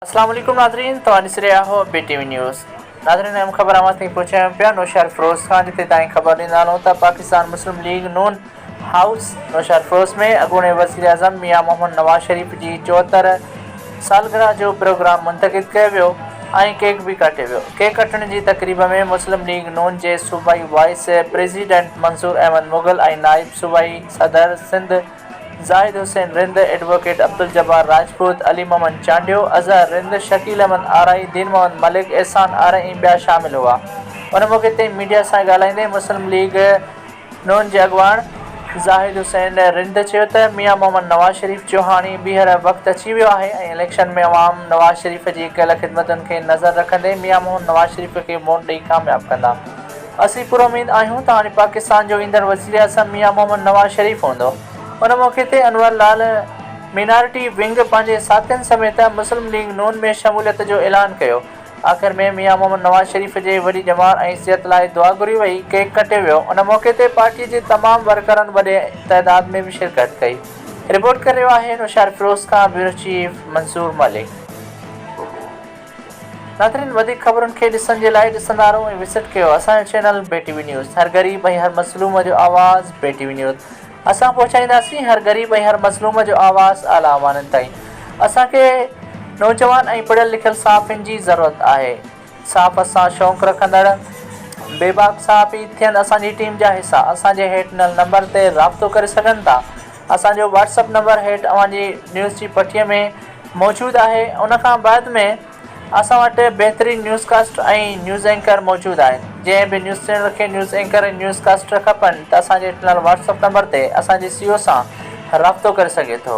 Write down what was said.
السلام عليڪم ناظرين توهان ڏسي رهيا آهيو بي ٽي وي نيوز ناظرين اهم خبر اوهان تائين پهچايون پيا نوشهر فيروز خان جتي تائين خبر ڏيندانو ته Pakistan Muslim League Noon house Naushahro Feroze ۾ اڳوڻي وزيراعظم ميان محمد نواز شريف جي چوهتر سالگرهه جو پروگرام منتقد ڪيو ويو ۽ ڪيڪ به ڪاٽيو ويو. ڪيڪ ڪٽڻ جي تقريب ۾ مسلم ليگ نون جي صوبائي وائيس پريزيڊنٽ منظور احمد مغل ۽ نائب صوبائي صدر سنڌ زاهد حسين رند، ايڊووڪيٽ عبدالجبار راجپوت، علي محمد چانڊيو، اظهر رند، شڪيل احمد آرائي، دين محمد ملڪ، احسان آرائي ۽ ٻيا شامل هئا. ان موقعي تي ميڊيا سان ڳالهائيندي مسلم ليگ. ن جي اڳواڻ زاهد حسين رند چيو ته ميان محمد نواز شريف جو هاڻي ٻيهر وقت اچي ويو آهي ۽ اليڪشن ۾ عوام نواز شريف جي ڪيل خدمتن کي نظر رکندي ميان محمد نواز شريف کي ووٽ ڏئي ڪامياب ڪندا اسين پراميد آهيون ته هاڻي پاڪستان جو ايندڙ وزيراعظم ميان محمد نواز شريف هوندو ان موقعي تي انور لال مينارٽي ونگ پنهنجي ساٿين سميت مسلم ليگ ن ۾ شموليت جو اعلان ڪيو آخر ۾ ميان محمد نواز شريف جي وڏي ڄمار ۽ صحت لاء دعا گهري وئي، ڪيڪ ڪٽيو ويو، ان موقعي تي پارٽي جي تمام ورڪرن وڏي تعداد ۾ به شرڪت ڪئي. رپورٽ ڪري رهيو آهي نوشهر فيروز کان بيورو چيف منصور ملڪ. ناظرين وڌيڪ خبرن کي ڏسڻ جي لاء ڏسندا رهو ۽ وزٽ ڪيو اسان جو channel B T V news هر غريب ۽ هر مظلوم جو آواز بي ٽي وي نيوز. اسان پهچائينداسين هر غريب ۽ هر مظلوم جو آواز اعليٰ اوانن تائين. اسان کي نوجوان ۽ پڙهيل لکيل صحافين جي ضرورت آهي. صحافت سان شوق رکندڙ بي باڪ صحافي ٿين اسان جي ٽيم جا حصا اسان جي هيٺ ڏنل نمبر تي رابطو ڪري سگهن ٿا. اسان جو واٽس اپ نمبر هيٺ اوهان جي نيوز جي پٺيء ۾ موجود آهي. ان کان بعد ۾. اسان وٽ بهترين نيوز ڪاسٽر ۽ نيوز اينڪر موجود آهن جنهن به نيوز چينل کي نيوز اينڪر ۽ نيوز ڪاسٽر کپن ته اسان جي ڏنل واٽس اپ نمبر تي اسان جي سي او سان رابطو ڪري سگهي ٿو.